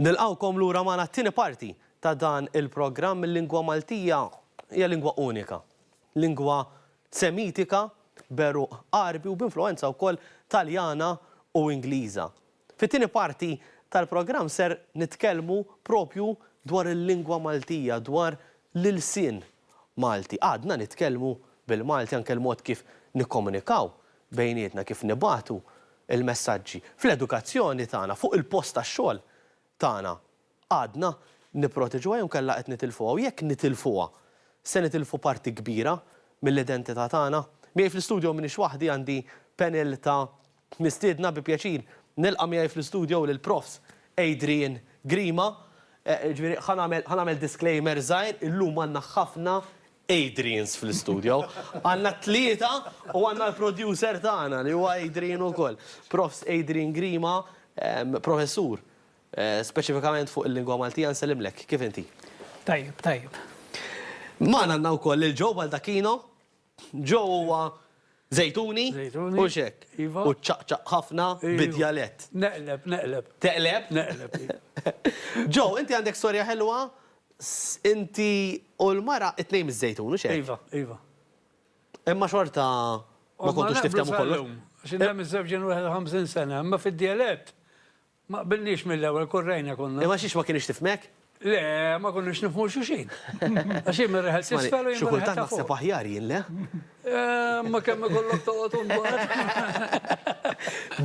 Nilqgħukom lura magħna t-tieni parti ta' dan il-programm Il-Lingwa Maltija hija lingwa unika. Lingwa Semitika b'għeruq Għarbi u b'influwenza wkoll Taljana u Ingliża. Fit-tieni parti tal-programm ser nitkellmu propju dwar il-lingwa Maltija, dwar l-ilsien Malti. Għadna nitkellmu bil-Malti anke l-mod kif nikkomunikaw bejnietna, kif nibagħtu l-messaġġi fl-edukazzjoni tagħna, fuq il-post tax-xogħol tagħna, għadna nipproteġuha jew inkella qed nitilfuha? U jekk nitilfuha, se nitilfu parti kbira mill-identità tagħna? Miegħi fl-istudio m'iniex waħdi, għandi panel ta' mistiedna, bi pjaċir nilqa' miegħi fl-istudio lill-Profs. Adrian Grima, ġifieri ħa nagħmel disclaimer żgħir, illum għandna ħafna Adrians fl-istudio. Għandna t-tlieta u għandna l-producer tagħna li huwa Adrian ukoll. Profs. Adrian Grima, Professur, speċifikament fuq il-Lingwa Maltija, nsellimlek. Kif inti? Tajjeb, tajjeb. Magħna għandna wkoll lil Joe Baldacchino. Joe huwa Żejtuni u x'hekk. U ċċaqċaq ħafna bid-djalett. Neqleb, neqleb. Teqleb? Neqleb, hi. Joe, inti għandek storja ħelwa, inti u l-mara it-tnejn miż-Żejtun, u x'hekk? Iva, iva. Imma xorta ma kontux tifthemu kollox. X'inhemm iż-żewġ ġenwaħed u ħamsin sena, imma fid-djalett Ma qbilniex mill-ewwel, korrejna konna. Imma xiex ma kinitx tifhmek? Le, ma konniex nifhmu xulxin. Għax hi mir-reħel t'isfel u jien mir-reħel ta' fuq. Xi kultant naħseb aħjar jien, le? Imma kemm ikollok toqgħod u mbagħad.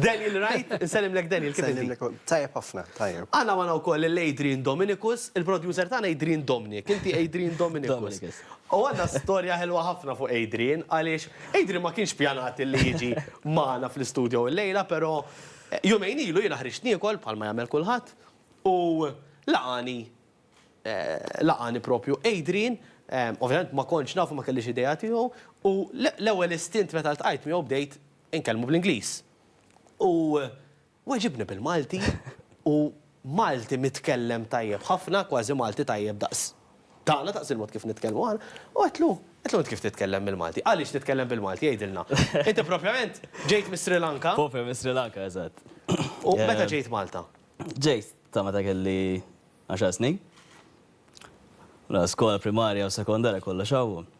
Daniel right? Insellimlek Daniel, kif inti? Insellimlek ukoll. Tajjeb ħafna, tajjeb. Għandna magħna wkoll lil Adrian Dominicus, il-producer tagħna Adrian Domnic. Inti Adrian Dominicus. Dominicus. U għandna storja ħelwa ħafna fuq Adrian għaliex Adrian ma kienx pjanat li jiġi magħna fl-istudio illejla, però Jumejn ilu jiena ħriġt niekol bħalma jagħmel kulħadd u laqagħni laqagħni propju Adrian, ovvjament ma kontx nafu ma kellix idea tiegħu u l-ewwel istint meta ltqajt miegħu bdejt inkellmu bl-Ingliż. U weġibni bil-Malti u Malti mitkellem tajjeb ħafna, kważi Malti tajjeb daqs tagħna, daqs il-mod kif nitkellmu aħna, u għedtlu, Għedtlu int kif titkellem bil-Malti? Għaliex titkellem bil-Malti, għidilna. Inti propjament ġejt mis-Sri Lanka. Propju mis-Sri Lanka, eżatt. U meta ġejt Malta? Ġejt ta' meta kelli għaxar snin. Mela skola primarja u sekondarja kollox hawn.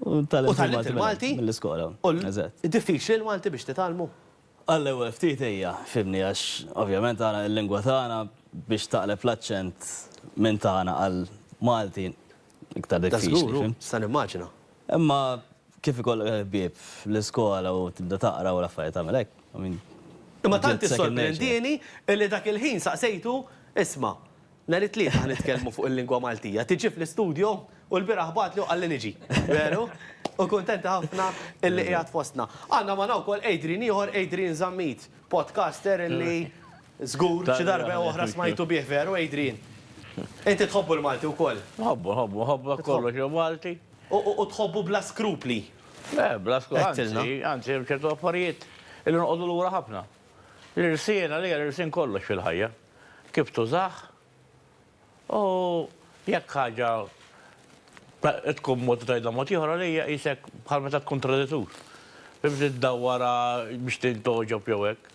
U tgħallimt il-Malti mill-iskola. U tgħallimt il-Malti? Eżatt. U diffiċli l-Malti biex titgħallmu? Għall-ewwel ftit ejja, fhimni, għax ovvjament aħna l-lingwa tagħna biex taqleb l-aċċent minn tagħna għal Malti iktar diffiċli. Da żgur, nista' nimmaġina. Imma kif ikollok il-ħbieb fl-iskola u tibda taqra u l-affarijiet tagħmel hekk, I mean. Imma tant issorprendieni li dak il-ħin saqsejtu, isma', Nhar it-Tlieta ħa nitkellmu fuq il-lingwa Maltija. Tiġi fl-istudju? U lbieraħ bagħatli u qalli niġi. Veru? U kuntenti ħafna illi qiegħed fostna. Għandna magħna wkoll Adrian ieħor, Adrian Zammit, podcaster illi żgur xi darba jew oħra smajtu bih, veru Adrian? Inti tħobbu l-Malti wkoll? Nħobbu, nħobbu, nħobbu dak kollox li hu Malti. U tħobbu bla skrupli? Le, bla skrupli, anzi, anzi hemm ċertu affarijiet illi noqogħdu lura ħafna. L-irsien għalija, l-irsien kollox fil-ħajja. kif tużah u jekk ħaġa tkun mod u tgħidha mod ieħor għalija qisek bħal meta tkun traditur. Biex iddawwarha biex tintgħoġob jew hekk.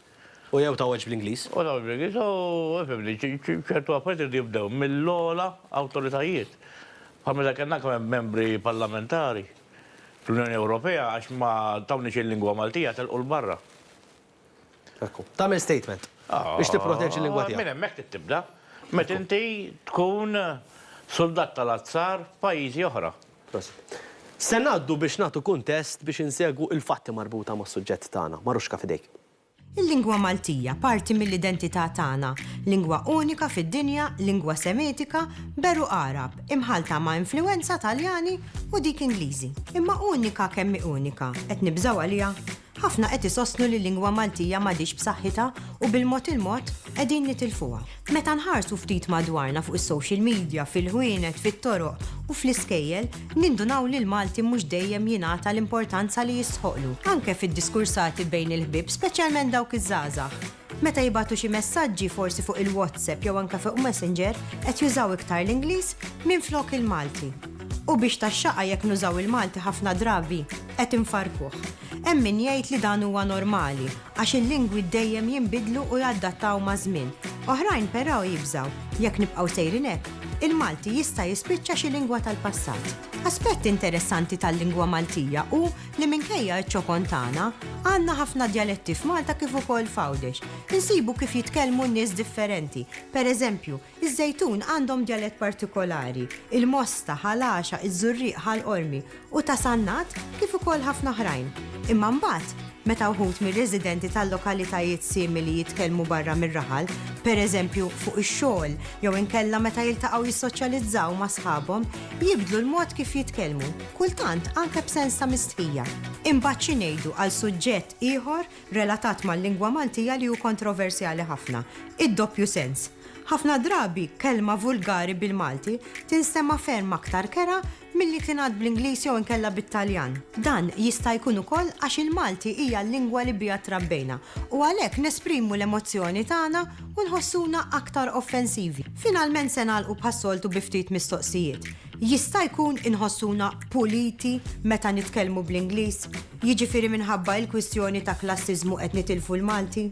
U jew tgħoġġ bl-Ingliż. U tgħoġġ bl-Ingliż u fimni, ċertu affarijiet iridu jibdew mill-ogħla awtoritajiet. Bħal meta kellna kemm hemm membri parlamentari fl-Unjoni Ewropea għax ma tawniex il-lingwa Maltija telqu 'l barra. Tagħmel statement biex tipproteġi l-lingwa tiegħek. Minn hemmhekk trid tibda. Meta inti tkun suldat tal-azzar f'pajjiżi oħra. Se ngħaddu biex nagħtu kuntest biex insegwu il-fatti marbuta mas-suġġett tagħna. Maruschka f'idejk. Il-lingwa Maltija, parti mill-identità tagħna, lingwa unika fid-dinja, lingwa Semitika, b'għeruq Għarab, imħallta ma' influwenza Taljani u dik Ingliżi. Imma unika kemm hi unika, qed nibżgħu għaliha? Ħafna qed isostnu li l-lingwa Maltija m'għadhiex b'saħħitha u bil-mod il-mod qegħdin nitilfuha. Meta nħarsu ftit madwarna fuq is-social media, fil-ħwienet, fit-toroq u fl-iskejjel, nindunaw li l-Malti mhux dejjem jingħata l-importanza li jistħoqqlu, anke fid-diskursati bejn il-ħbieb speċjalment dawk iż-żgħażagħ. Meta jibgħatu xi messaġġi forsi fuq il-WhatsApp jew anke fuq Messenger qed jużaw iktar l-Ingliż minflok il-Malti. U biex tax-xaqa jekk nużaw il-Malti ħafna drabi qed infarrkuh. Hemm min jgħid li dan huwa normali għax il-lingwi dejjem jinbidlu u jadattaw maż-żmien. Oħrajn però jibżgħu jekk nibqgħu sejrin hekk, il-Malti jista' jispiċċa xi lingwa tal-passat. Aspett interessanti tal-lingwa Maltija hu li minkejja ċ-ċokon tagħna, għandna ħafna djaletti f'Malta kif ukoll f'Għawdex. Insibu kif jitkellmu n-nies differenti. Pereżempju, iż-Żejtun għandhom djalett partikolari, il-Mosta, Ħal Għaxaq, iż-Żurrieq, Ħal Qormi, u ta' Sannat, kif ukoll ħafna oħrajn. Imma mbagħad, meta wħud mir-residenti tal-lokalitajiet simili jitkellmu barra mir-raħal, pereżempju fuq ix-xogħol jew inkella meta jiltaqgħu jissoċjalizzaw ma' sħabhom, jibdlu l-mod kif jitkellmu. kultant anke b'sens ta' mistħija. Imbagħad xi ngħidu għal suġġett ieħor relatat mal-lingwa Maltija li hu kontroversjali ħafna, id-doppju sens. Ħafna drabi kelma vulgari bil-Malti tinstema' ferm aktar kerha milli tingħad bl-Ingliż jew inkella bit-Taljan. Dan jista' jkun ukoll għax il-Malti hija l-lingwa li biha trabbejna u għalhekk nesprimu l-emozzjoni tagħna u nħossuna aktar offensivi. Finalment se nagħlqu bħas-soltu bi ftit mistoqsijiet. Jista' jkun inħossuna puliti meta nitkellmu bl-Ingliż, jiġifieri minħabba l-kwistjoni ta' klassiżmu qed nitilfu l-Malti?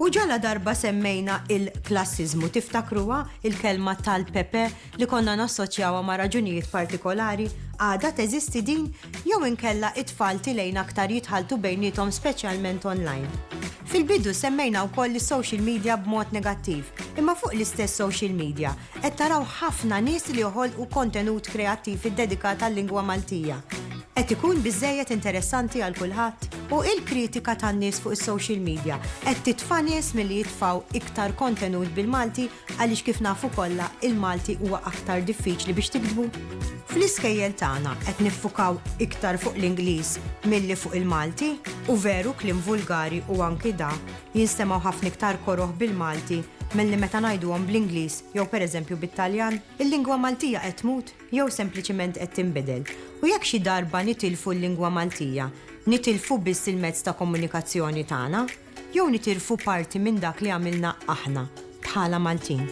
U ġala darba semmejna il-klassiżmu, tiftakruha il-kelma tal-Pepe li konna nassoċjawha ma' raġunijiet partikolari, għadha teżisti din jew inkella t-tfal tilgħin aktar jitħalltu bejniethom speċjalment online? Fil-bidu semmejna wkoll is-social media b'mod negattiv, imma fuq l-istess social media, Qed taraw ħafna nies li joħolqu kontenut kreattiv iddedikat għal-lingwa Maltija. Qed ikun biżżejjed interessanti għal kulħadd? U il-kritika tan-nies fuq is-social media qed titfa' nies milli jitfgħu iktar kontenut bil-Malti għaliex kif nafu kollha il-Malti huwa aktar diffiċli biex tiktbu? Fl-iskejjel tagħna qed niffukaw iktar fuq l-Ingliż milli fuq il-Malti? U veru kliem vulgari u anki da Jinstemgħu ħafna iktar koroh bil-Malti milli meta ngħiduhom bl-Ingliż jew pereżempju bit-Taljan. Il-lingwa Maltija qed tmut jew sempliċiment qed tinbidel? U jekk xi darba nitilfu l-lingwa Maltija, nitilfu biss il-mezz ta' komunikazzjoni tagħna? Jew nitilfu parti minn dak li għamilna aħna bħala Maltin?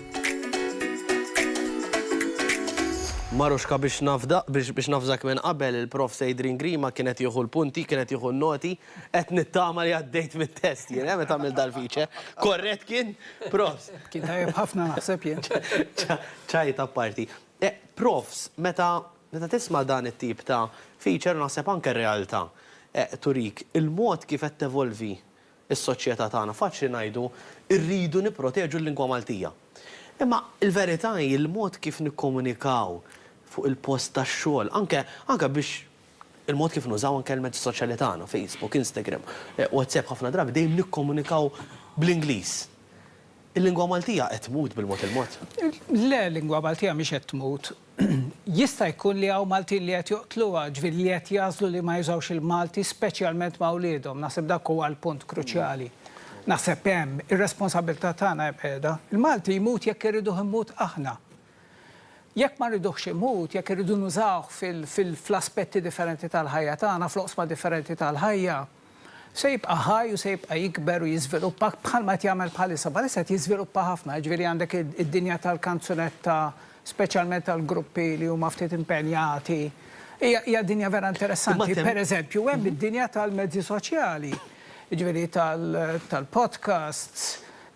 Maruxka biex nafda, biex nafżak minn qabel, il-Prof. Seidrin Grima kien qed jieħu l-punti, kien qed jieħu n-noti. Qed nittama li għaddejt mit-test jien, eh, meta għamilt dal-feature. Korrett kien? Profs. Kien tajjeb ħafna naħseb jien. Ċajt apparti. Eh, profs, meta meta tisma' dan it-tip ta' feature naħseb anke r-realtà eh, turik il-mod kif qed tevolvi s-soċjetà tagħna. Faċli ngħidu rridu nipproteġu l-lingwa Maltija. Imma l-verità hi l-mod kif nikkomunikaw fuq il-post tax-xogħol, anke anke biex il-mod kif nużaw anke l-mezzi soċjali tagħna, Facebook, Instagram, WhatsApp, ħafna drabi dejjem nikkomunikaw bl-Ingliż. Il-lingwa Maltija qed tmut bil-mod il-mod? Le, l-lingwa Maltija mhix qed tmut. Jista' jkun li hawn Maltin li qed joqtluha, jiġifieri li qed jagħżlu li ma jużawx il-Malti speċjalment ma' wliedhom. Naħseb dak huwa l-punt kruċjali. Naħseb hemm ir-responsabbiltà tagħna hemm qiegħda. Il-Malti jmut jekk irriduh imut aħna. Jekk ma rriduhx xi mhud, jekk irridu nużawh fl-aspetti differenti tal-ħajja tagħna, fl-oqsma differenti tal-ħajja, se jibqa' ħaj u se jibqa' jikber u jiżviluppa bħalma qed jagħmel bħalissa. Bħalissa qed jiżviluppa ħafna, jiġifieri għandek id-dinja tal-kanzunetta, speċjalment tal-gruppi li huma ftit impenjati. Hija dinja vera interessanti. Pereżempju, hemm id-dinja tal-mezzi soċjali, jiġifieri tal-podcasts,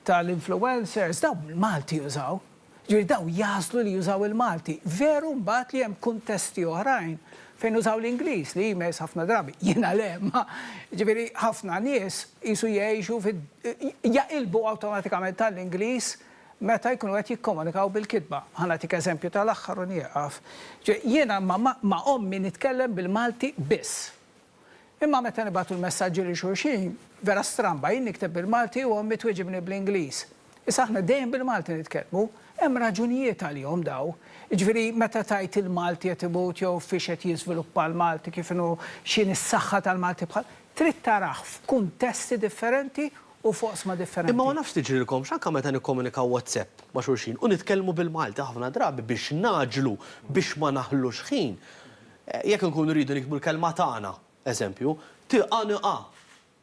tal-influencers, dawn il-Malti jużaw. Jiġifieri dawn jagħżlu li jużaw il-Malti. Veru mbagħad li hemm kuntesti oħrajn fejn użaw l-Ingliż li jmiss ħafna drabi, jiena le, imma jiġifieri ħafna nies qisu jgħixu fi jaqilbu awtomatikament għall-Ingliż meta jkunu qed jikkomunikaw bil-kitba. Ħa nagħtik eżempju tal-aħħar u nieqaf. Jiena ma' ommi nitkellem bil-Malti biss. Imma meta nibagħtu l-messaġġi lil xulxin, vera stramba, jien nikteb bil-Malti u ommi twiġibni bl-Ingliż. Issa aħna dejjem bil-Malti nitkellmu. Hemm raġunijiet għalihom daw. Jiġifieri meta tgħid il-Malti qed imut jew fiex qed jiżviluppa l-Malti, kif inhu, x'inhi s-saħħa tal-Malti bħal, trid tarah f'kuntesti differenti u f'oqsma differenti. Imma ma nafx tiġrilkomx anke meta nikkomunikaw WhatsApp ma' xulxin u nitkellmu bil-Malti ħafna drabi biex nagħġlu biex ma naħlux ħin, Jekk inkunu rridu niktbu l-kelma tagħna, eżempju, tgħanqa,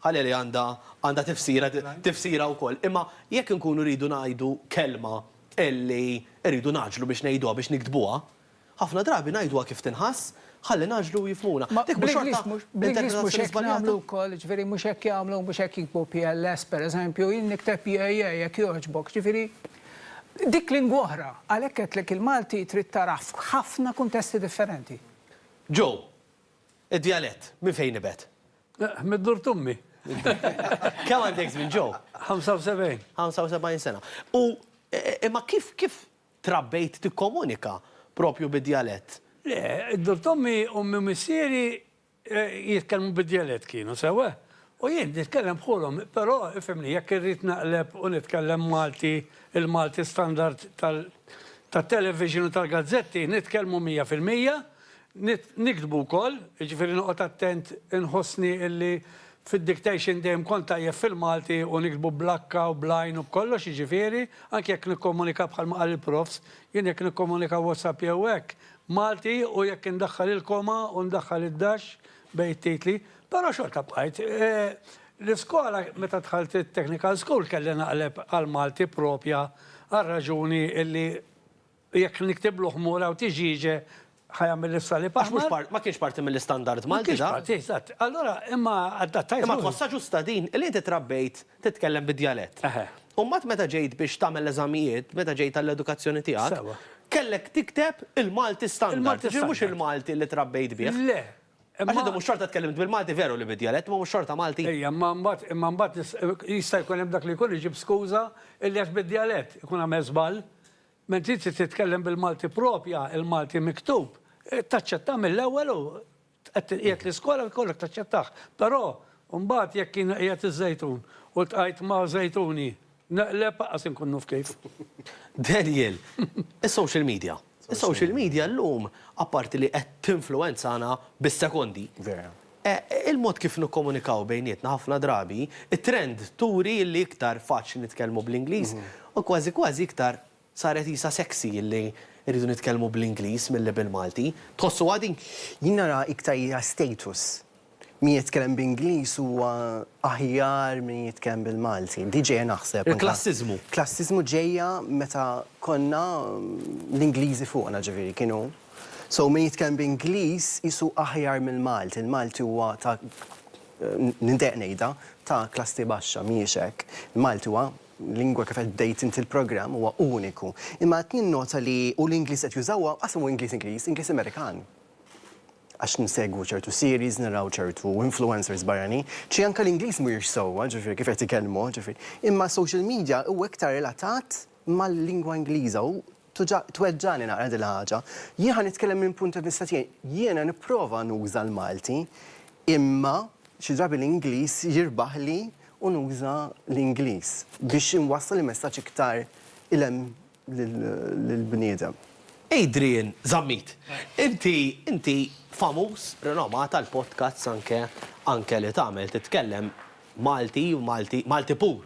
ħalli li għandha għandha tifsira tifsira wkoll, imma jekk inkunu rridu ngħidu kelma li rridu nagħġlu biex ngħiduha, biex niktbuha, ħafna drabi ngħiduha kif tinħass ħalli nagħġlu u jifhmuna. Dik mhux xorta interpretazzjoni żbaljata? Ġifieri mhux hekk jagħmlu, mhux hekk jiktbu pls, pereżempju, jien nikteb PAA jekk jogħġbok, ġifieri Dik lingwa oħra, għalhekk għedtlek il-Malti trid tarah f'ħafna kuntesti differenti. Joe, Id-djalett, minn fejn nibet? Mid-dur t'ommi. Kemm għandek żmien, Joe? 75. 75 sena. U imma kif kif trabbejt tikkomunika propju bid-djalett? Le, id-dur t'ommi, ommi u missieri Jitkellmu bid-djalett kienu, sewwa? U jien nitkellem bħulhom, però, ifhimni, jekk irrid naqleb u nitkellem Malti, il-Malti standard tat-television u tal-gazzetti, nitkellmu mija fil-mija, niktbu wkoll, jiġifieri noqgħod attent inħossni illi fid-dictation dejjem kont tajjeb fil-Malti u niktbu bl-akka u bl-għajn u b'kollox, jiġifieri, anki jekk nikkomunika bħalma qal il-Profs, jien jekk nikkomunika WhatsApp jew hekk, Malti u jekk indaħħal il-koma u ndaħħal id-dash bejn it-titli, però xorta bqajt. L-iskola meta dħalt it-technical school kelli naqleb għall-Malti proprja għar-raġuni illi jekk niktiblu ħmur hawn tiġieġe ħa jagħmel is-salib aħmar. Għax mhux part, ma kienx parti mill-istandard Malti dan. Ma kienx parti, eżatt. Allura imma adattajt ruħi. Imma tħossha ġusta din li inti trabbejt titkellem bid-djalett. U mbagħad meta ġejt biex tagħmel l-eżamijiet, meta ġejt għall-edukazzjoni tiegħek, kellek tikteb il-Malti standard, ġifieri mhux il-Malti li trabbejt bih. Le. Għax inti mhux xorta tkellimt bil-Malti veru li bid-djalett, imma mhux xorta Malti. Ejja, imma mbagħad, imma mbagħad jista' jkun hemm dak li jkun iġib skuża illi għax bid-djalett ikun għamel żball. Ma inti trid titkellem bil-Malti proprja, il-Malti miktub. Taċċetta mill-ewwel u Tqegħed tinqiegħed l-iskola jkollok taċċettah. Però mbagħad jekk jien qiegħed iż-żejtun u ltqajt ma' żejtuni neqleb aqqas inkun nuf kif. Daniel, Is-social media. Is-social media llum apparti li qed tinfluwenzana bis-sekondi. Vera. Il-mod kif nikkomunikaw bejnietna ħafna drabi, it-trend turi li iktar faċli nitkellmu bl-Ingliż u kważi kważi iktar Saret qisha sexy li rridu nitkellmu bl-Ingliż milli bil-Malti. Tħossuha din? Jien nara iktar hija status. Min jitkellem b'Ingliż huwa aħjar minn jitkellem bil-Malti. Di ġejja naħseb. Il-klassiżmu. Klassiżmu ġejja meta konna l-Ingliżi fuqna ġifieri kienu. So min jitkellem b'Ingliż qisu aħjar mill-Malti. Il-Malti huwa ta' nindejjaq ngħidha ta' klassi baxxa, mhijiex hekk. Il-Malti huwa lingwa kif qed bdejt inti l-programm huwa uniku. Imma qed ninnota li u l-Ingliż qed jużaw huwa qasam hu Ingliż Ingliż, Ingliż Amerikan. Għax nsegwu ċertu series, naraw ċertu influencers barranin, xi anke l-Ingliż mhuwiex sewwa, ġifieri kif qed ikellmu, ġifieri. Imma social media huwa iktar relatat mal-lingwa Ingliża u Tweġġagħni naqra din il-ħaġa. Jien ħa nitkellem minn punt ta' vista tiegħi. Jiena nipprova nuża l-Malti, imma xi drabi l-Ingliż jirbaħli u nuża l-Ingliż biex inwassal il-messaġġ iktar 'il hemm lill-bniedem. Adrian Zammit, inti inti famuż, rinomat għall-podcasts anke anke li tagħmel, titkellem Malti, Malti Malti pur.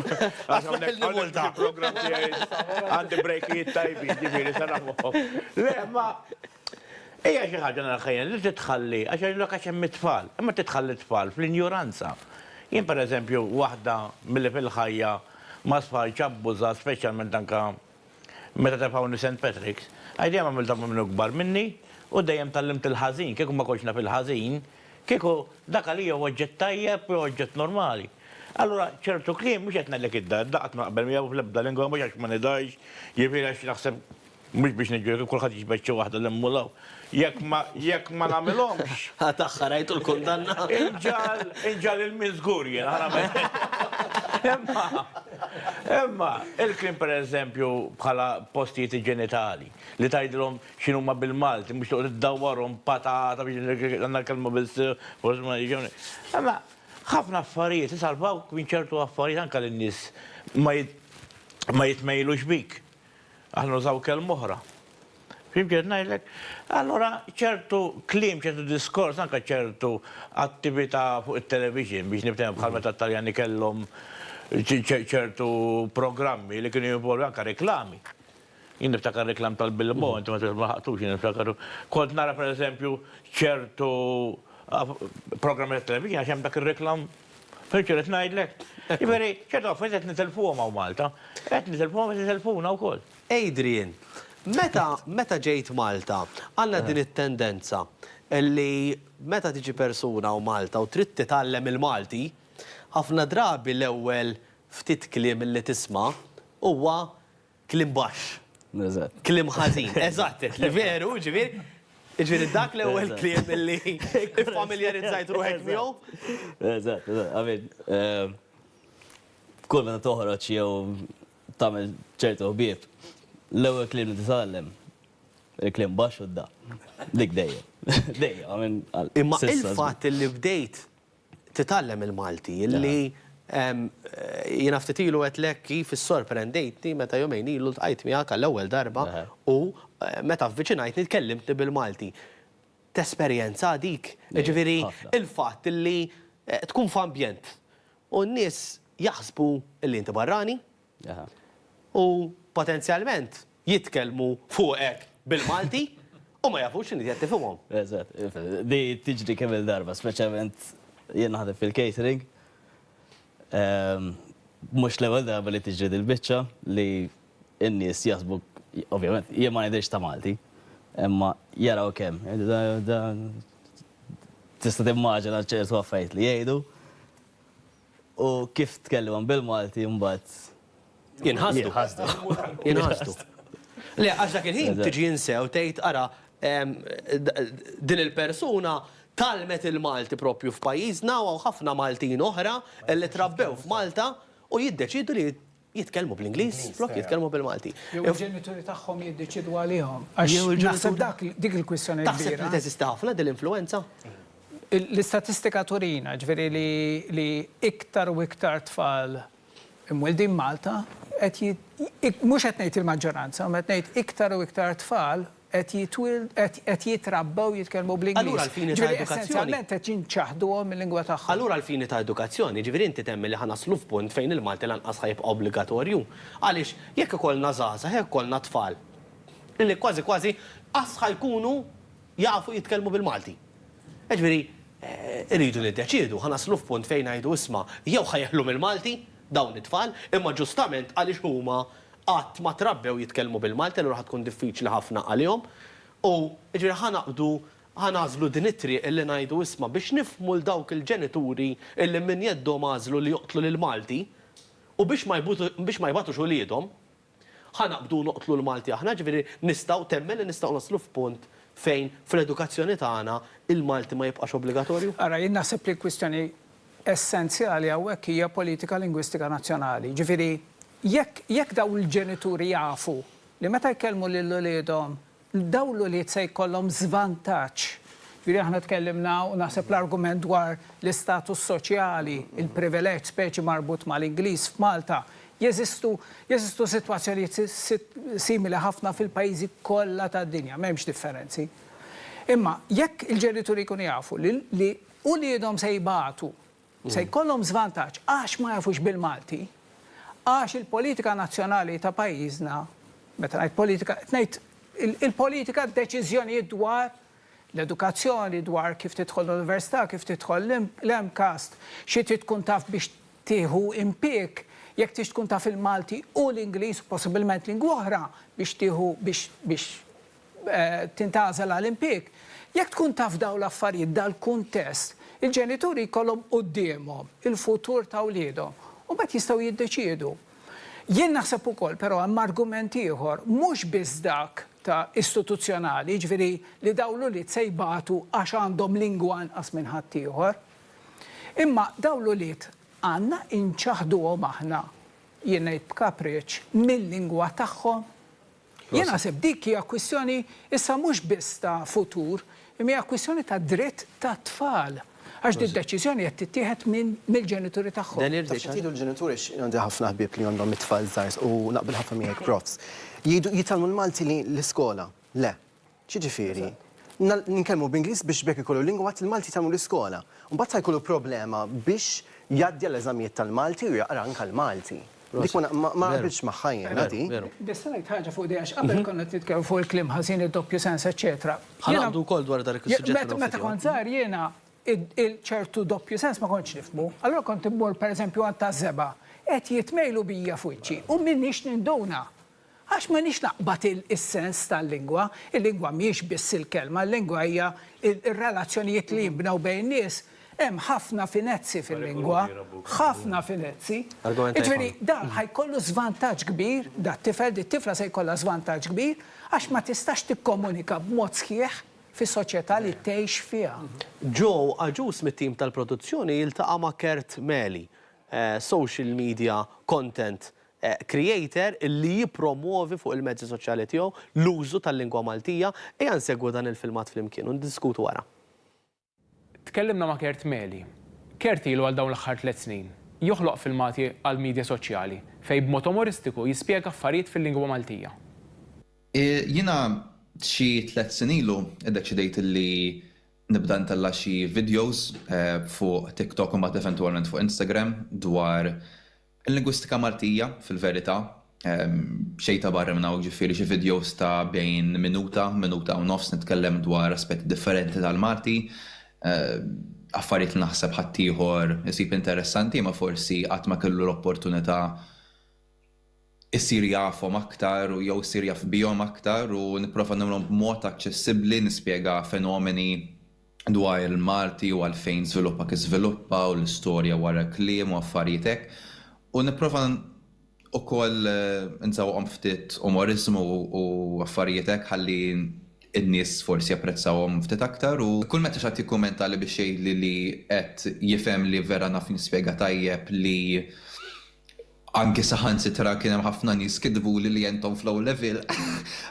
Għax hawnhekk hawnhekk fil-programm tiegħi għandi brejkijiet tajbin, ġifieri se naħmuhom. Le, ma hija xi ħaġa nara ħajja li titħalli għax jgħidulek għax hemm it-tfal, imma titħalli t-tfal fl-injuranza. Jien pereżempju waħda milli fil-ħajja ma' sħajtx abbużat speċjalment anke Meta tefgħuni Saint Patrick's, għax dejjem għamilthom minn minnu kbar minni u dejjem tgħallimt il-ħażin, kieku ma kontx naf il-ħażin, kieku dak għalija hu oġġett tajjeb, hu oġġett normali. Allura ċertu kliem, mhux qed ngħidlek id-da, id-da qatt ma naqbel miegħu fl-ebda lingwa, mhux għax ma nidhaax, jiġifieri għax naħseb mhux biex niġġudika, kulħadd jiġbed xi waħda 'l hemm u 'l hawn. Jekk ma, jekk ma nagħmilhomx. Ħa tagħha rajtu l-kundanna? Inġal, inġal il-min żgur jien, ħa nagħmel. Imma, imma, il-kliem pereżempju bħala postijiet iġenitali, li tgħidilhom x'inhuma bil-Malti, mhux toqgħod iddawwarhom b'patata biex għandna l-kelma bil-sir, forsi ma jiġewni. Imma ħafna affarijiet isalvawk minn ċertu affarijiet anke lin-nies ma ma jitmejlux bik. Aħna nużaw kelma oħra. Fim ġed ngħidlek? Allura ċertu kliem, ċertu diskors, anke ċertu attività fuq it-television biex nibtem bħal meta t-Taljani kellhom ċertu programmi li kienu jinvolvi anke reklami. Jien niftakar reklam tal-Bilbo, inti ma ħaqtux jien niftakaru. Kont nara pereżempju ċertu programmi tat-television għax hemm dak ir-reklam Fimtx x'qed ngħidlek? Jiġifieri, ċertu affarijiet qed nitilfuhom hawn Malta. Qed nitilfuhom qed itilfuna wkoll. Adrian, meta meta ġejt Malta, għandna din it-tendenza li meta tiġi persuna hawn Malta u trid titgħallem il-Malti, ħafna drabi l-ewwel ftit kliem li tisma' huwa Kliem baxx. Eżatt. Kliem ħażin. Eżatt, qed li veru, ġifieri. Ġifieri dak l-ewwel kliem li iffamiljarizzajt ruħek miegħu. Eżatt, eżatt. I mean, kull meta toħroġ jew tagħmel ċertu ħbieb, l-ewwel kliem li titgħallem, il-kliem baxx u d-da. Dik dejjem. Dejjem, I mean, għal. Imma il-fatt li bdejt titgħallem il-Malti, li jiena ftit ilu għedtlek kif issorprendejtni meta jumejn ilu ltqajt miegħek għall-ewwel darba u meta avviċinajtni tkellimtni bil-Malti. Tesperjenza dik? Jiġifieri l-fatt li tkun f'ambjent u n-nies jaħsbu li inti barrani, u potenzjalment jitkellmu fuqek bil-Malti u ma jafux x'inhi qed tifhimhom. Eżatt. Di tiġri kemm-il darba, speċjalment jien naħdem fil-catering. Mhux l-ewwel darba li tiġri dil-biċċa li n-nies jaħsbuk, ovvjament, jien ma nidhirx ta' Malti, imma jaraw kemm. Tista' timmaġina ċertu affarijiet li jgħidu. U kif tkellimhom bil-Malti mbagħad jinħasdu. Jinħasdu. Le, għax dak il-ħin tiġi insew tgħid ara din il-persuna tgħallmet il-Malti proprju f'pajjiżna u hawn ħafna Maltin oħra li trabbew f'Malta u jiddeċiedu li jitkellmu bl-Ingliż flok jitkellmu bil-Malti. Jew il-ġenituri tagħhom jiddeċiedu għalihom. Għax naħseb dak dik il-kwistjoni kbira. Taħseb li teżisti ħafna din l-influwenza? L-istatistika turina, ġifieri li iktar u iktar tfal imwieldin Malta qed mhux qed ngħid il-maġġoranza, imma qed ngħid iktar u iktar tfal qed jitwieldu, qed, qed jitrabbew jitkellmu bl-Ingliż. Allura għall-fini ta' edukazzjoni. Jiġifieri essenzjalment qed jinċaħduhom mil-lingwa tagħhom. Allura għall-fini ta' edukazzjoni, jiġifieri inti temmen li ħa naslu f'punt fejn il-Malti lanqas ħa jibqa' obbligatorju? Għaliex jekk ikollna żgħażagħ, jekk ikollna tfal li kważi kważi qas ħa jkunu jafu jitkellmu bil-Malti. Jiġifieri irridu niddeċiedu, ħa naslu f'punt fejn ngħidu isma' jew ħa jeħlu mill-Malti, dawn it-tfal, imma ġustament għaliex huma qatt ma trabbew jitkellmu bil-Malti allura ħa tkun diffiċli ħafna għalihom u jiġifieri ħa naqbdu ħa nagħżlu din it-triq illi ngħidu isma' biex nifhmu 'l dawk il-ġenituri illi minn jeddhom għażlu li joqtlu lill-Malti u biex ma biex ma jbagħtux uliedhom Ħa naqbdu u noqtlu l-Malti aħna, jiġifieri nistgħu, temmen li nistgħu naslu f'punt fejn fl-edukazzjoni tagħna l-Malti ma jibqax obbligatorju? Ara, jien naħseb li l-kwistjoni essenzjali hawnhekk hija politika lingwistika nazzjonali. Jiġifieri jekk jekk dawn il-ġenituri jafu li meta jkellmu lil uliedhom dawn l-ulied se jkollhom żvantaġġ. Jiġifieri aħna tkellimna u naħseb l-argument dwar l-istatus soċjali, il-privileġġ speċi marbut mal-Ingliż f'Malta. Jeżistu jeżistu sitwazzjonijiet simili ħafna fil-pajjiżi kollha tad-dinja, m'hemmx differenzi. Imma jekk il-ġenituri jkunu jafu li uliedhom se jbatu se jkollhom żvantaġġ għax ma jafux bil-Malti, għax il-politika nazzjonali ta' pajjiżna, meta ngħid politika, qed ngħid il-politika d-deċiżjonijiet dwar l-edukazzjoni, dwar kif tidħol l-università, kif tidħol l-MCAST, xi trid tkun taf biex tieħu impieg, jekk trid tkun taf il-Malti u l-Ingliż, possibilment lingwa oħra, biex tieħu biex tintgħażel għal impjieg. Jekk tkun taf dawn l-affarijiet, dal-kuntest, il-ġenituri jkollhom quddiemhom il-futur ta' wliedhom u mbagħad jistgħu jiddeċiedu. Jien naħseb ukoll, però hemm argument ieħor, mhux biss dak ta' istituzzjonali, jiġifieri li dawn l-ulied se jbatu għax għandhom lingwa anqas minn ħaddieħor. Imma dawn l-ulied għandna inċaħħduhom aħna, jien ngħid b'kapriċċ, mil-lingwa tagħhom Jien naħseb dik hija kwistjoni issa mhux biss ta' futur, imma hija kwistjoni ta' dritt tat-tfal. Għax din deċiżjoni qed tittieħed minn mill-ġenituri tagħhom. Taf xi qed jgħidu l-ġenituri għax għandi ħafna ħbieb li għandhom it-tfal żgħar u naqbel ħafna miegħek profs. Jgħidu jitgħallmu l-Malti li l-iskola. Le. X'jiġifieri? Ninkellmu b'Ingliż biex b'hekk ikollu lingwa mbagħad il-Malti jitgħallmu l-iskola. Mbagħad sa jkollu problema biex jgħaddi għall-eżamijiet tal-Malti u jaqra anke l-Malti. Dik ma ma naqbilx magħha jiena di. Biss ngħid ħaġa fuq di għax qabel konna qed nitkellmu fuq il-kliem ħażin, id-doppju sens, eċċetera. Ħa naqbdu wkoll dwar dak is-suġġett fil-waqt. Meta kont żgħir jiena ċertu doppju sens ma kontx nifhmu. Allura kont immur pereżempju għand taż-żebgħa, qed jitmejlu bija f'wiċċi u m'iniex ninduna. Għax m'għandix naqbad is-sens tal-lingwa, il-lingwa mhijiex biss il-kelma, il-lingwa hija r-relazzjonijiet li jinbnew bejn in-nies. Hemm ħafna finezzi fil-lingwa, ħafna finezzi. Jiġifieri dan ħa jkollu żvantaġġ kbir, dat-tifel, dit-tifla se jkollha żvantaġġ kbir għax ma tistax tikkomunika b'mod sħiħ fis-soċjetà li tgħix fiha. Joe Agius mit-tim tal-produzzjoni jiltaqa' ma' Kurt Meli, social media content creator li jippromwovi fuq il-mezzi soċjali tiegħu l-użu tal-lingwa Maltija, ejja nsegwu dan il-filmat flimkien u niddiskutu wara. Tkellimna ma' Kurt Meli. Kurt ilu għal dawn l-aħħar tliet snin joħloq filmati għall-midja soċjali fejn b'mod umoristiku jispjega affarijiet fil-lingwa Maltija. Jiena xi tliet snin ilu iddeċidejt li nibda ntella' xi videos fuq TikTok u mbagħad eventwalment fuq Instagram dwar Il-lingwistika Maltija, fil-verità, xejn ta' barra minn hawn, jiġifieri xi vidjows ta' bejn minuta, minuta u nofs nitkellem dwar aspetti differenti tal-Malti, affarijiet li naħseb ħaddieħor isib interessanti imma forsi qatt ma kellu l-opportunità jsir jafhom aktar jew isir jaf bihom aktar u nipprova nagħmilhom b'mod aċċessibbli, nispjega fenomeni dwar il-Malti u għalfejn żviluppa kif żviluppa u l-istorja wara l-kliem u affarijiet hekk u nipprova ukoll nżawwaqhom ftit umoriżmu u affarijiet hekk ħalli n-nies forsi japprezzawhom ftit aktar u kull meta xi ħadd jikkumenta li biex jgħidli li qed jifhem li vera naf nispjega tajjeb li Anki saħansitra kien hemm ħafna nies kitbuli li entom f'low level.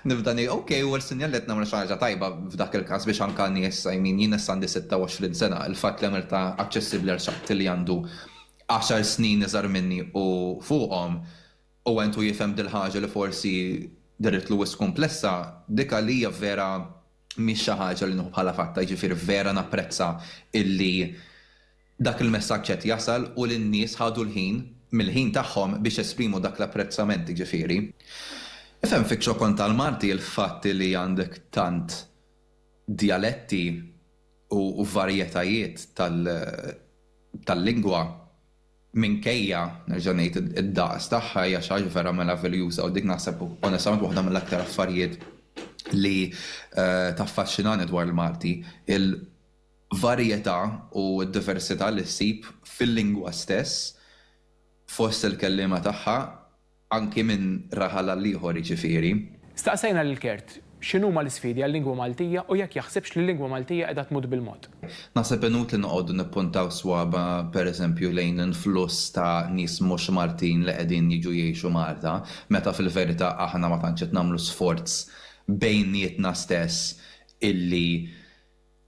Nibda ngħid ok, u ħarsitni għal qed nagħmel xi ħaġa tajba f'dak il-każ biex anke għal nies, I mean jien issa għandi 26 sena, il-fatt li għamiltha aċċessibbli għal xi ħadd li għandu għaxar snin iżgħar minni u fuqhom u għentu jifhem dil-ħaġa li forsi derietlu wisq kumplessa, dik għalija vera mhix xi ħaġa li nieħu bħala fatta, jiġifieri vera napprezza illi Dak il-messaġġ qed jasal u lin-nies ħadu l-ħin, mill-ħin tagħhom biex jesprimu dak l-apprezzament jiġifieri. Ifhem fiċ-ċokon tal-Malti l-fatt li għandek tant djaletti u varjetajiet tal-lingwa minkejja, nerġa' ngħid, id-daqs tagħha hija xi ħaġa vera meraviljuża u dik naħseb onestament waħda mill-aktar affarijiet li taffaxxinani dwar il-Malti, il, varjetà u d-diversità li ssib fil-lingwa stess fost il-kelliema tagħha anki minn raħal għal ieħor jiġifieri. Staqsejna lil Kurt x'inhuma l-isfidi għal-lingwa Maltija u jekk jaħsibx li l-lingwa Maltija qiegħda tmut bil-mod. Naħseb inutli noqogħdu nippuntaw swaba' per eżempju lejn influss ta' nies mhux Maltin li qegħdin jiġu jgħixu Malta meta fil-verità aħna ma tantx qed nagħmlu sforz bejnietna stess illi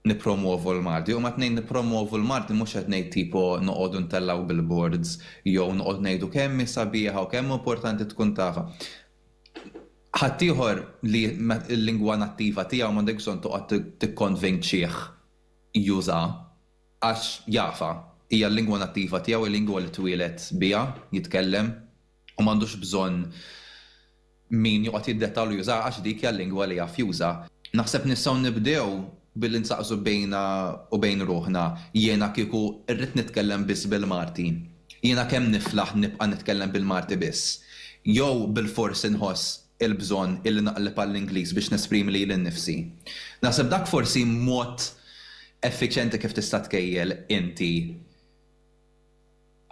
nippromwovu l-Malti, u meta ngħid nippromwovu l-Malti mhux qed ngħid tipo noqogħdu ntellgħu billboards jew noqgħod ngħidu kemm hi sabiħa u kemm hu importanti tkun tafha. Ħaddieħor li l-lingwa nattiva tiegħu m'għandek bżonn toqgħod tikkonvinċih jużha għax jafha, hija l-lingwa nattiva tiegħu, hi lingwa li twieled biha, jitkellem, u m'għandux bżonn min joqgħod jiddettalu jużaha għax dik hija l-lingwa li jaf juża. Naħseb nistgħu nibdew billi nsaqsu bejna u bejn ruħna, jiena kieku rrid nitkellem biss bil-Malti, jiena kemm niflaħ nibqa' nitkellem bil-Malti biss? Jew bilfors inħoss il-bżonn illi naqleb għall-Ingliż biex nesprimi lili nnifsi? Naħseb dak forsi mod effiċjenti kif tista' tkejjel inti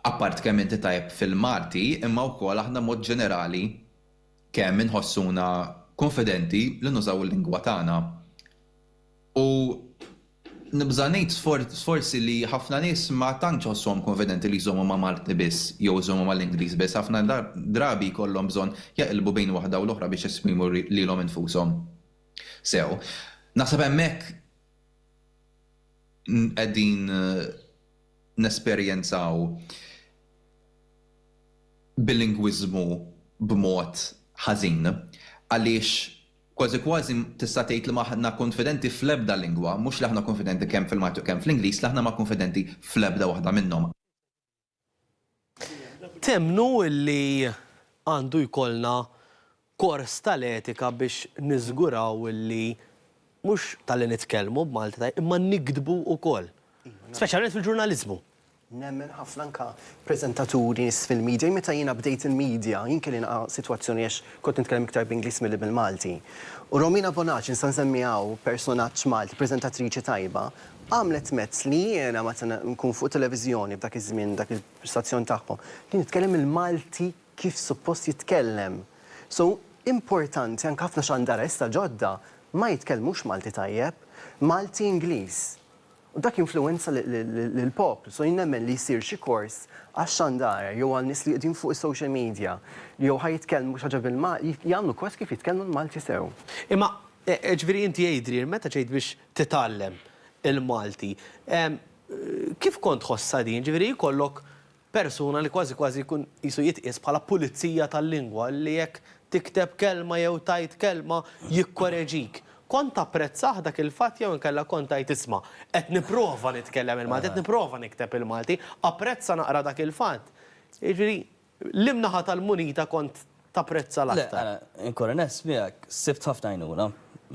Appart kemm inti tajjeb fil-Malti imma wkoll aħna mod ġenerali kemm inħossuna kunfidenti li nużaw il-lingwa tagħna. U nibża' ngħid forsi li ħafna nies ma tantx iħossuhom kunfidenti li jżommu ma' Malti biss jew iżommu mal-Ingliż biss, ħafna drabi jkollhom bżonn jaqilbu bejn waħda u l-oħra biex jesprimu lilhom infushom sew. Naħseb hemmhekk qegħdin. nesperjenzaw bilingwiżmu b'mod ħażin, għaliex kważi kważi tista' tgħid li m'aħna kunfidenti fl-ebda lingwa, mhux li aħna kunfidenti kemm fil-Malti u kemm fl-Ingliż, li aħna ma kunfidenti fl-ebda waħda minnhom. Temmnu li għandu jkollna kors tal-etika biex niżguraw li mhux talli nitkellmu b'Malti tajjeb imma niktbu wkoll, speċjalment fil-ġurnaliżmu? Nemmen ħafna anke preżentaturi, nies fil-midja. Jien meta jiena bdejt il-midja, jien kelli nilqa' sitwazzjoni għax kont nitkellem iktar b'Ingliż milli bil-Malti. U Romina Bonacci, nista' nsemmiha hawn, personaġġ Malti, preżentatriċi tajba, għamlet mezz li jiena meta nkun fuq televiżjoni f'dak iż-żmien, dak l-istazzjon tagħhom, li nitkellem il-Malti kif suppost jitkellem. So, importanti anke ħafna xandaresta ġodda ma jitkellmux Malti tajjeb, Malti Ingliż. U dak jinfluwenza lill-poplu. So jien nemmen li jsir xi kors għax-xandara jew għal nies li qegħdin fuq is-social media li jew ħa jitkellmu xi ħaġa bil-Malti, jagħmlu kors kif jitkellmu l-Malti sew. Imma, jiġifieri inti għidli, meta ġejt biex titgħallem il-Malti. Kif kont tħossha din, ġifieri jkollok persuna li kważi kważi jkun qisu jitqies bħala pulizija tal-lingwa li jekk tikteb kelma jew tgħid kelma jikkoreġik. Kont tapprezzah dak il-fatt jew inkella kont tgħid isma' qed nipprova nitkellem il-Malti, qed nipprova nikteb il-Malti, apprezza naqra dak il-fatt. Jiġifieri, Liem naħa tal-munita kont tapprezza l-aktar? Le, ara, inkun onest miegħek, sibt ħafna għajnuna.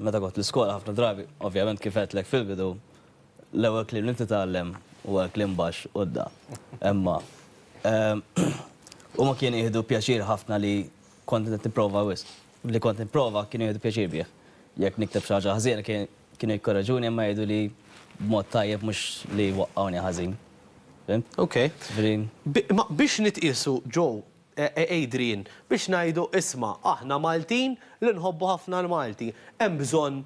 Meta kont l-iskola ħafna drabi, ovvjament kif għedtlek fil-bidu, l-ewwel kliem li titgħallem huwa l-kliem baxx u d-da. Imma huma kienu jieħdu pjaċir ħafna li kont qed nipprova wisq. Li kont nipprova kienu jieħdu pjaċir bih. Jekk nikteb xi ħaġa ħżiena Kienu jikkoreġuni imma jgħidu li b'mod tajjeb mhux li jwaqqgħuni ħażin. Fhimt? Ok. Ġifieri. Imma biex nitqiesu Joe, Adrian, biex ngħidu isma' aħna Maltin li nħobbu ħafna l-Malti, hemm bżonn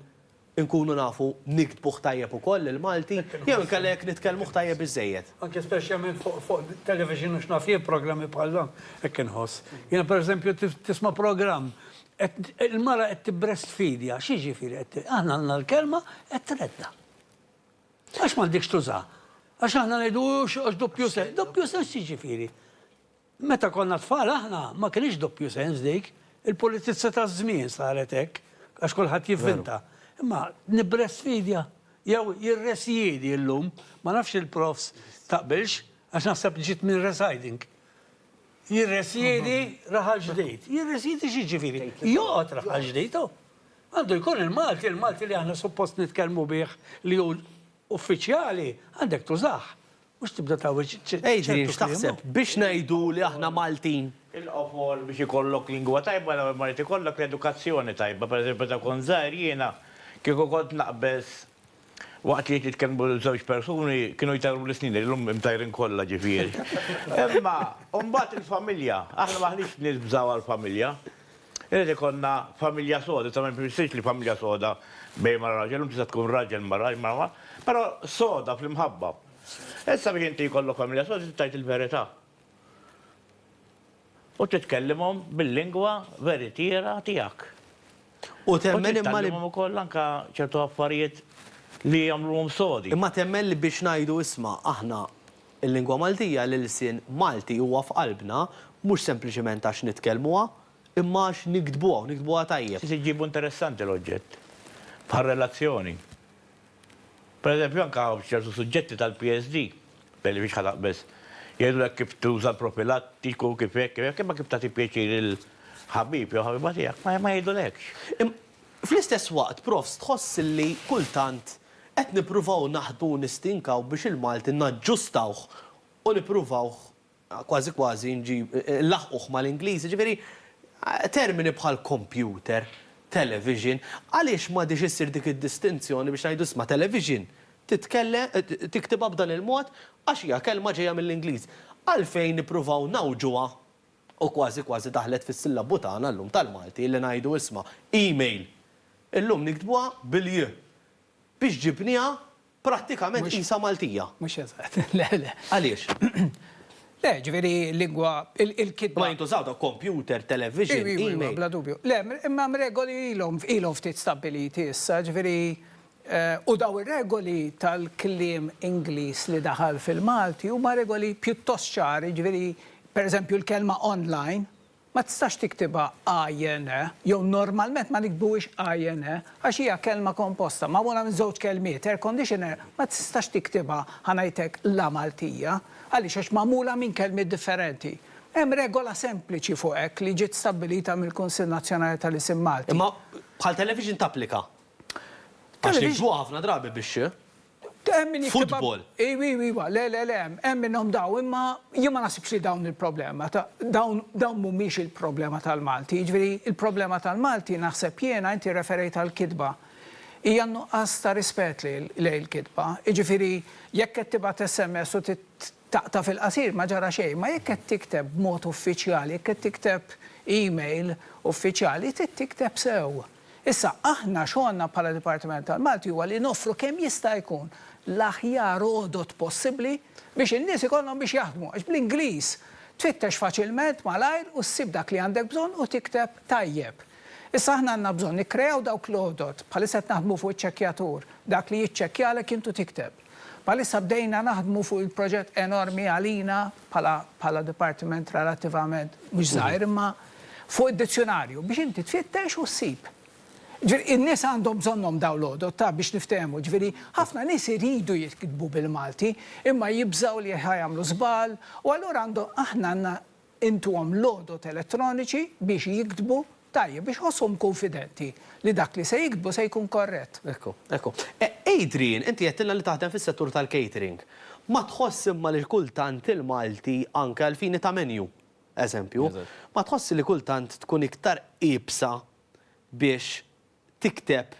inkunu nafu niktbuh tajjeb ukoll il-Malti jew inkella jekk nitkellmuh tajjeb biżżejjed? Anke speċjalment fuq television u x'naf jien programmi bħal dawn hekk inħoss. Jiena pereżempju tisma' programm Qed il-mara qed tibbrestfidja, x'jiġifieri qed ti-, aħna għandna l-kelma qed treddha. Għax m'għandekx tużaha? Għax aħna ngħidu għax doppju sens, doppju sens x'jiġifieri? Meta konna tfal aħna ma kinitx doppju sens dik, il-politizza taż-żmien saret hekk għax kulħadd jivvinta. Imma nibbrestfidja jew jirresjiedi llum, ma nafx il-profs taqbilx għax naħseb ġiet minn residing. Jirresjedi Raħal Ġdid. Jirresjedi x'jiġifieri? Joqgħod Raħal Ġdid, hu. Għandu jkun il-Malti, il-Malti li aħna suppost nitkellmu bih li hu uffiċjali, għandek tużah. Mhux tibda tgħawweġ ċertu kliem. Adrian, x'taħseb? Biex ngħidu li aħna Maltin. Il-qofol biex ikollok lingwa tajba l-ewwel ma jrid ikollok l-edukazzjoni tajba. Pereżempju meta kont żgħir jiena kieku kont naqbeż Waqt li jitkellmu żewġ persuni kienu jtajruli snini, llum imtajrin kollha ġifieri. Imma mbagħad il-familja, aħna m'aħniex nies bżaw għall-familja. Irid ikollna familja soda, ta' ma jfissirx li familja soda bejn mara u raġel, llum tista' tkun raġel mara, mara, però soda fl-imħabba. Issa biex inti jkollok familja soda trid tgħid il-verità. U titkellimhom bil-lingwa veritiera tiegħek. U temmen imma li. U tgħallimhom ukoll anke ċertu affarijiet li jagħmluhom sodi. Imma temmen li biex ngħidu isma' aħna l-lingwa Maltija, l-ilsien Malti huwa f'qalbna, mhux sempliċement għax nitkellmuha, imma għax niktbuha u niktbuha tajjeb. Trid iġġibu interessanti l-oġġett, bħar-relazzjoni. Pereżempju, anke hawn f'ċertu suġġetti tal-PSD, b'Elie Fix ħa taqbeż, jgħidulek kif tuża l-profilattiku, kif hekk, kif hekk, imma kif tagħti pjaċir lill-ħabib jew ħabiba tiegħek ma jgħidulekx. Fl-istess waqt, Profs, tħoss li kultant qed nippruvaw naħdmu u nistinkaw biex il-Malti naġġustawh u nippruvawh kważi kważi nġib, inlaħħquh mal-Ingliż, jiġifieri termini bħal kompjuter, television, għaliex m'għadhiex issir dik id-distinzjoni biex ngħidu isma' television titkellem, tiktibha b'dan il-mod għax hija kelma ġejja mill-Ingliż. Għalfejn nippruvaw ngħawġuha u kważi kważi daħlet fis-sillabu tagħna llum tal-Malti illi ngħidu isma' email illum niktbuha bil-j biex ġibniha Prattikament qisha Maltija. Mhux eżatt, le, le. Għaliex? Le, ġifieri lingwa, il-kitba. Ma jintużaw dawk kompjuter, television, email. Iva, iva, bla dubju. Le, imma hemm regoli ilhom, ilhom ftit stabbiliti issa, ġifieri, u dawn ir-regoli tal-kliem Ingliż li daħal fil-Malti huma regoli pjuttost ċari, ġifieri, pereżempju l-kelma online, Ma tistax tiktibha INE, jew normalment ma nikbuhiex INE, għax hija kelma komposta, magħmula minn żewġ kelmiet, air conditioner ma tistax tiktibha, ħa ngħid hekk, la Maltija. Għaliex? Għax magħmula minn kelmiet differenti. Hemm regola sempliċi fuq hekk li ġiet stabbilita mill-Kunsill Nazzjonali tal-Isem Malti. Imma bħal television tapplika? Għax niktbuha ħafna drabi bix-x. Football. Iwa, iwa, iwa. Le, le, le, hemm minnhom dawn, imma jien ma naħsibx li dawn il-problema. Dawn mhumiex il-problema tal-Malti. Jiġifieri, il-problema tal-Malti naħseb jiena, inti rreferejt għall-kitba, hija n-nuqqas ta' rispett lejn il-kitba. Jiġifieri, jekk qed tibgħat SMS u taqta' fil-qasir ma ġara xejn, imma jekk qed tikteb b'mod uffiċjali, jekk qed tikteb email uffiċjali, trid tikteb sew. Issa, aħna xogħolna bħala Dipartiment tal-Malti huwa li noffru kemm jista' jkun l-aħjar għodod possibbli biex in-nies ikollhom biex jaħdmu għax bl-Ingliż tfittex faċilment malajr u ssib dak li għandek bżonn u tikteb tajjeb. Issa aħna għandna bżonn nikkreaw dawk l-għodod, bħalissa qed naħdmu fuq iċ-ċekkjatur, dak li jiċċekkjalek int u tikteb. Bħalissa bdejna naħdmu fuq il-proġett enormi għalina bħala bħala dipartiment relattivament mhux żgħir imma fuq id-dizzjunarju biex inti tfittex u ssib. Ġifieri in-nies għandhom bżonnhom dawn l-għodod ta' biex niftehmu, ġifieri ħafna nies iridu jitkitbu bil-Malti imma jibżgħu li ħa jagħmlu żball u allura għandhom aħna għandna Intuhom l-għodod elettroniċi biex jiktbu tajjeb, biex iħossuhom kunfidenti li dak li se jiktbu se jkun korrett. Ekku, ekku. Adrian, inti għedtilna li taħdem fis-settur tal-catering. Ma tħoss imma li kultant il-Malti, anke għal fini ta' menu, eżempju, ma tħossx li kultant tkun iktar iebsa biex tikteb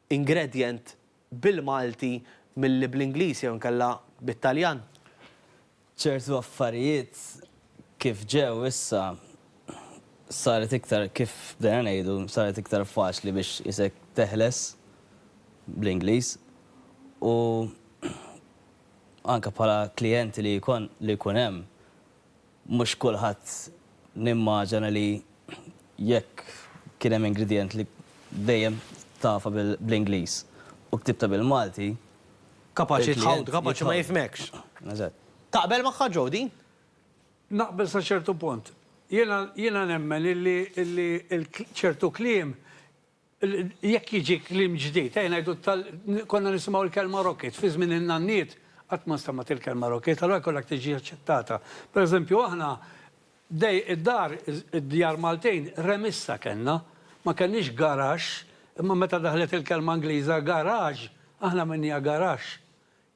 ingredient bil-Malti milli bl-Ingliż jew inkella bit-Taljan. Ċertu affarijiet kif ġew issa saret iktar kif bdejna ngħidu saret iktar faċli biex qisek teħles bl-Ingliż u anke bħala klijenti li jkun hemm Mhux kulħadd nimmaġana li jekk kien hemm ingredient li dejjem tafa bl-Ingliż u ktibtha bil-Malti, Kapaċi tħawd, kapaċi ma jifhmekx. Eżatt. Taqbel magħha Joe din? Naqbel sa ċertu punt. Jiena jiena nemmen illi illi ċertu kliem Jekk jiġi kliem ġdid, ejja ngħidu tal, konna nisimgħu l-kelma rocket, fi żmien in-nanniet qatt ma nstemgħet il-kelma rocket, allura jkollha tiġi aċċettata. Pereżempju aħna dej, id-dar, id-djar Maltin remissa kellna, ma kellniex garaxx, imma meta daħlet il-kelma Ingliża garage, aħna għamilniha garaxx.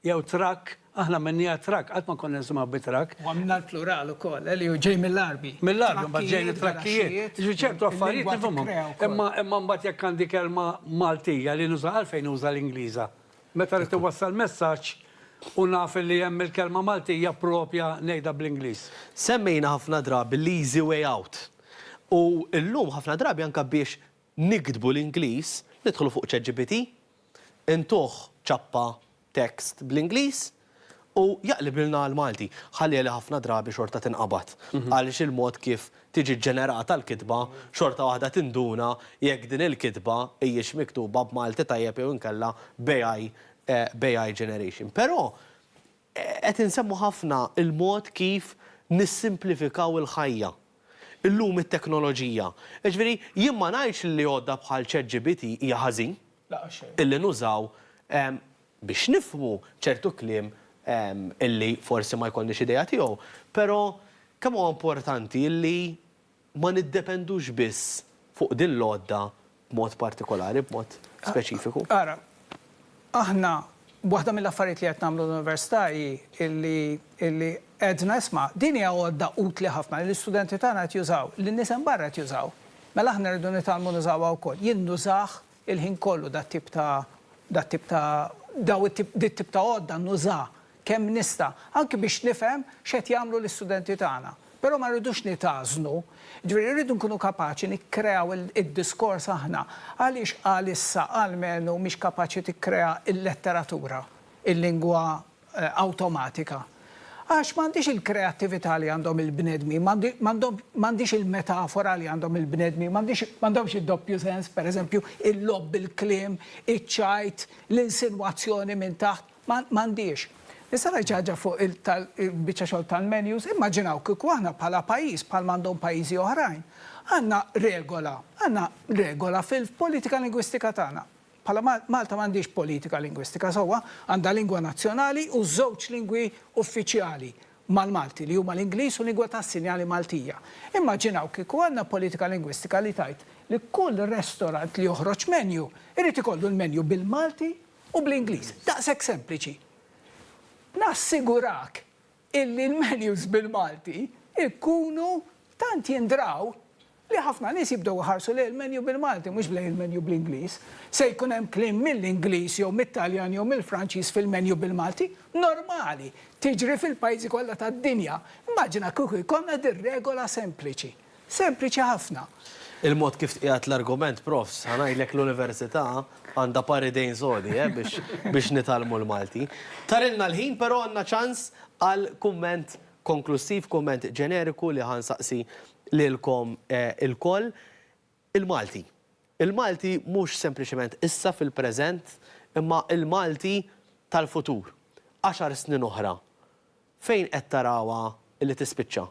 jew trakk, aħna għamilniha trakk, qatt ma konna nisimgħu bi trakk. U għamilna l-plural ukoll, eh, li hu ġej mill-Għarbi. Mill-Għarbi mbagħad ġejn it-trakkijiet. Jiġifieri ċertu affarijiet nifhimhom. Imma imma mbagħad jekk għandi kelma Maltija li nuża għalfejn uża l-Ingliża? Meta rrid iwassal messaġġ u naf li hemm il-kelma Maltija proprja ngħidha bl-Ingliż. Semmejna ħafna drabi l-easy way out. U llum ħafna drabi anke biex Niktbu l-Ingliż, nidħlu fuq ChatGPT, intuh ċappa text bl-Ingliż u jaqlibilna għall-Malti. Ħalliha li ħafna drabi xorta tinqabad għaliex il-mod kif tiġi ġġenerata l-kitba xorta waħda tinduna jekk din il-kitba hijiex miktuba b'Malti tajjeb jew inkella b'AI b'AI generation. Però Qed insemmu ħafna l-mod kif nissimplifikaw il-ħajja llum it-teknoloġija. Jiġifieri jien ma ngħidx li għodda bħal ChatGPT hija ħażin illi nużaw biex nifhmu ċertu kliem illi forsi ma jkollniex idea tiegħu, però kemm huwa importanti illi ma niddependux biss fuq din l-għodda b'mod partikolari, b'mod speċifiku? Ara, aħna waħda mill-affarijiet li qed nagħmlu l-Università hi li li għedna isma' din hija għodda utli ħafna li l-istudenti tagħna qed jużaw, li n-nies hemm barra qed jużaw, mela aħna rridu nitgħallmu nużawha wkoll. Jien nużah Il-ħin kollu dat-tip ta' dat-tip ta' daw it-tip dit-tip ta' għodda nuża kemm nista', anki biex nifhem x'qed jagħmlu l-istudenti tagħna. Però ma rridux nitgħażnu. Ġifieri rridu nkunu kapaċi nikkreaw id-diskors aħna. Għaliex għalissa almenu mhix kapaċi tikkrea l-letteratura, il-lingwa awtomatika. Għax m'għandhiex il-kreattività li għandhom il-bnedmin, m'għandhiex il-metafora li għandhom il-bnedmin, m'għandhomx id-doppju sens, pereżempju, il-logħob bil-kliem, iċ-ċajt, l-insinwazzjoni minn taħt, m'għandhiex. Nista' ngħid xi ħaġa fuq il-biċċa xogħol tal-menus? Immaġinaw kieku aħna bħala pajjiż, bħal ma għandhom pajjiżi oħrajn, għandna regola, għandna regola fil-politika lingwistika tagħna, Bħala Malta m'għandhiex politika lingwistika sewwa, għandha lingwa nazzjonali u żewġ lingwi uffiċjali mal-Malti li huma l-Ingliż u lingwa tas-sinjali Maltija. Immaġinaw kieku għandna politika lingwistika li tgħid li kull restorant li joħroġ menju jrid ikollu l-menju bil-Malti u bl-Ingliż. Daqshekk sempliċi. Nassigurak illi l-menus bil-Malti jkunu tant jindraw li ħafna nies jibdew iħarsu lejn il-menu bil-Malti mhux lejn il-menu bl-Ingliż. Se jkun hemm kliem mill-Ingliż jew mit-Taljan jew mill-Franċiż fil-menu bil-Malti? Normali! Tiġri fil-pajjiżi kollha tad-dinja. Immaġina kieku jkollna din regola sempliċi. Sempliċi ħafna. Il-mod kif tqiegħed l-argument, Profs, ħa ngħidlek l-Università għandha par idejn sodi, eh, biex biex nitgħallmu l-Malti. Tarilna l-ħin, però għandna ċans għal kumment konklussiv, kumment ġeneriku li ħa nsaqsi lilkom ilkoll. Il-Malti. Il-Malti mhux sempliċement issa fil-preżent imma il-Malti tal-futur, għaxar snin oħra, fejn qed tarawha li tispiċċa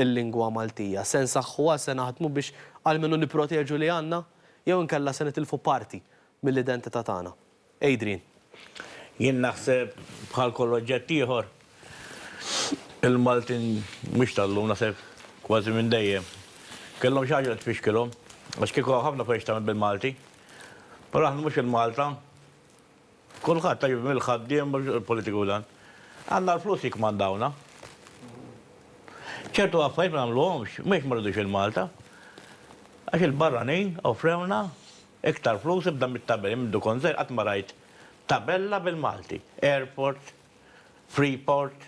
l-lingwa Maltija? Se nsaħħuha, se naħdmu biex almenu nipproteġu li għandna jew inkella se nitilfu parti mill-identità tagħna? Adrian, Jien naħseb bħal kull oġġett ieħor, il-Maltin mhux tal-lum, naħseb kważi minn dejjem, kellhom xi ħaġa li tfixkilhom, għax kieku hawn ħafna affarijiet x'tagħmel bil-Malti. Però aħna mhux il-Malta, kulħadd, jiġifieri mill-ħaddiem, il-politiku u dan. Għandna l-flus jikkmandawna. Ċertu affarijiet ma nagħmluhomx, mhux għax ma rridux il-Malta, għax il-barranin offrewlna. Iktar flus ibda mit-tabelli minn mdu kont żgħir qatt ma rajt tabella bil-Malti. Airport, Freeport.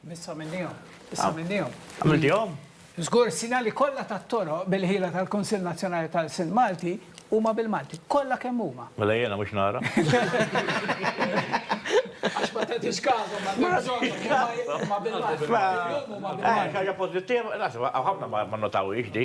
Biss għamilnihom. Biss għamilnihom. Għamiltihom? Żgur is-sinjali kollha tat-toroq bil-ħila tal-Kunsill Nazzjonali tal-Lsien Malti huma bil-Malti. Kollha kemm huma. Mela jiena mhux nara. Għax ma tagħtix każhom m'għandek bżonnhom. Huma bil-Malti. Huma bil-Malti. Xi ħaġa pożittiva, nasib hawn ħafna ma nnotawhiex di.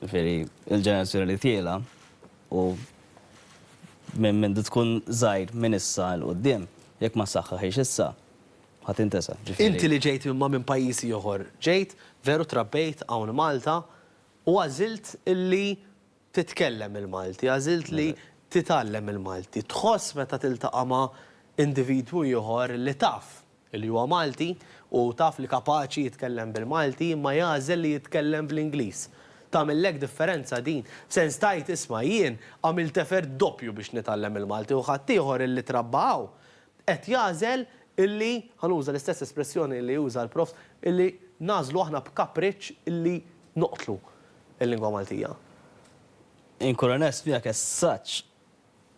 Jiġifieri l-ġenerazzjoni li tiela' u minn minn tkun żgħir minn issa 'l quddiem, jekk ma ssaħħaħhiex issa, ħa tintesa'. Inti li ġejt imma minn pajjiż ieħor, ġejt, veru trabbejt hawn Malta u għażilt illi Titkellem il-Malti, għażilt li titgħallem il-Malti. Tħoss meta tiltaqa' ma' individwu ieħor li taf li huwa Malti u taf li kapaċi jitkellem bil-Malti imma jagħżel li jitkellem bl-Ingliż. Tagħmillek differenza din? F'sens tgħid isma' jien għamilt effert doppju biex nitgħallem il-Malti u ħaddieħor illi trabba hawn qed jagħżel illi, ħa nuża l-istess espressjoni li uża l-Prof, illi nagħżlu aħna b'kapriċċ illi noqtlu l-lingwa Maltija. Inkun onest miegħek as such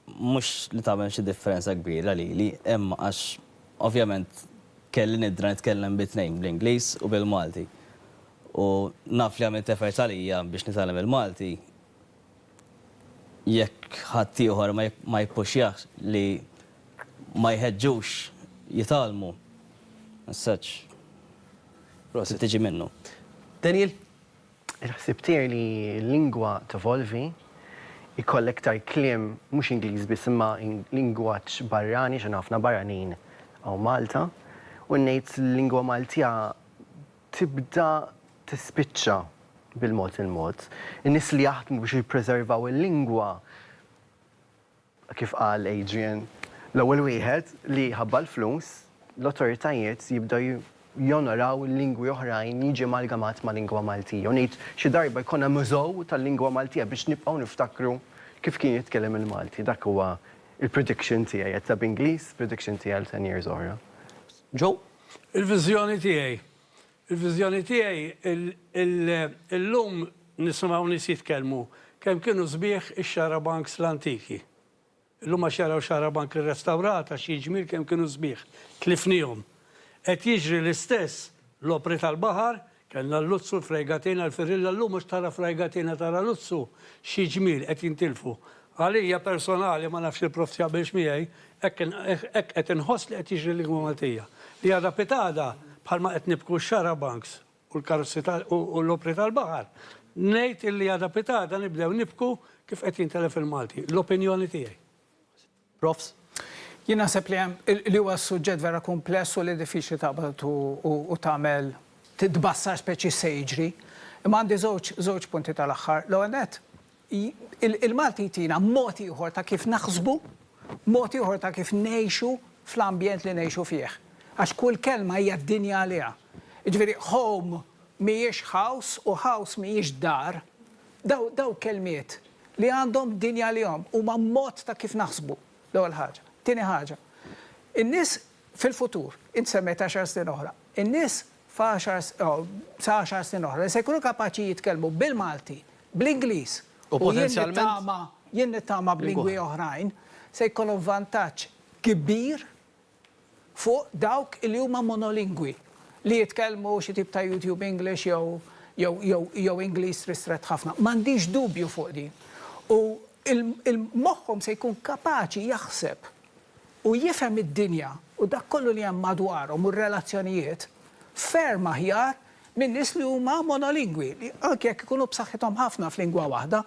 mhux li tagħmel xi differenza kbira lili, imma għax ovvjament kelli nidra nitkellem bit-tnejn bl-Ingliż u bil-Malti. U naf li għamilt effort għalija biex nitgħallem il-Malti, jekk ħaddieħor ma jippuxjahx li ma jħeġġux jitgħallmu as such. Prosit. Tiġi minnu. Daniel? Il-ħsieb tiegħi li l-lingwa tevolvi, ikollha iktar kliem mhux Ingliż biss imma lingwaġġ barrani għax għandna ħafna barranin hawn Malta u ngħid l-lingwa Maltija tibda tispiċċa bil-mod il-mod. In-nies li jaħdmu biex jippreservaw il-lingwa, kif qal Adrian, l-ewwel wieħed li jħabba l-flus, l-awtoritajiet jibdew jonoraw lingwi oħrajn li jiġi amalgamat mal-lingwa Maltija. U ngħid, xi darba jkollna mużew tal-lingwa Maltija biex nibqgħu niftakru kif kien jitkellem il-Malti. Dak huwa l-prediction tiegħi, għedtha b'Ingliż, prediction tiegħi għal ten years oħra. Joe, Il-viżjoni tiegħi. Il-viżjoni tiegħi Illum nisimgħu nies jitkellmu kemm kienu sbieħ ix-xarabanks l-antiki. Illum għax jaraw xarabank irrestawrat għax hi ġmiel kemm kienu sbieħ. Tlifniehom. Qed jiġri l-istess, l-opri tal-baħar Kellna l-luzzu, l-frejgatina, l-firilla llum mhux tara frajgatina tara luzzu. Xi ġmiel qed jintilfu. Għalija personali, ma nafx il-Prof jaqbilx miegħi, hekk hekk qed inħoss li qed jiġri l-lingwa Maltija. Li għadha pitgħada bħalma qed nibku x-xarabanks u l-karozzi u l-opri tal-baħar, ngħid illi għadha pitgħada nibdew nibku kif qed jintelef il-Malti. L-opinjoni tiegħi. Profs. Jien naħseb li hemm, li huwa suġġett vera kumpless u li diffiċli taqbad u tagħmel tbassar speċi x'se jiġri. Imma għandi żewġ żewġ punti tal-aħħar. L-ewwel nett, il-Malti jtina mod ieħor ta' kif naħsbu, mod ieħor ta' kif ngħixu fl-ambjent li ngħixu fih. Għax kull kelma hija d-dinja għaliha. Jiġifieri home mhijiex ħaws u ħaws mhijiex dar, dawn dawn kelmiet li għandhom din għalihom, huma mod ta' kif naħsbu, l-ewwel ħaġa. Tieni ħaġa, in-nies fil-futur, int semmejt għaxar snin oħra, in-nies f'għaxar sa għaxar snin oħra li se jkunu kapaċi jitkellmu bil-Malti, bl-Ingliż u potenzjalment jien nittama b'lingwi oħrajn, se jkollhom vantaġġ kbir fuq dawk li huma monolingwi, li jitkellmu xi tip ta' YouTube English jew Ingliż ristrett ħafna. M'għandix dubju fuq din. U moħħhom se jkun kapaċi jaħseb u jifhem id-dinja u dak kollu li hemm madwarhom u r-relazzjonijiet ferm aħjar minn nies li huma monolingwi, li anki jekk ikunu b'saħħithom ħafna f'lingwa waħda,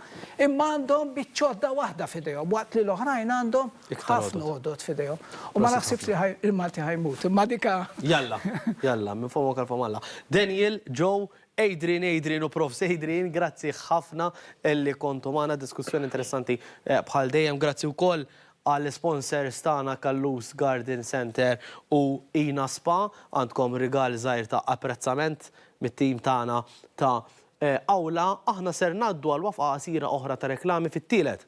imma għandhom biċċ'għodda waħda f'idejhom, waqt li l-oħrajn għandhom ħafna għodod f'idejhom. U ma naħsibx li ħaj, il-Malti ħa jmut, imma dik a. Jalla, jalla, minn fomok għal fomm Alla. Daniel, Joe, Adrian, Adrian u Profs. Adrian, grazzi ħafna li kontu magħna, diskussjoni interessanti bħal dejjem. Grazzi wkoll Għall-isponsers tagħna Callus Garden Centre u Ina Spa għandkom rigal żgħir ta' apprezzament mit-tim tagħna ta' Awla. Aħna ser ngħaddu għal wafqa qasira oħra ta' reklami fit-tielet.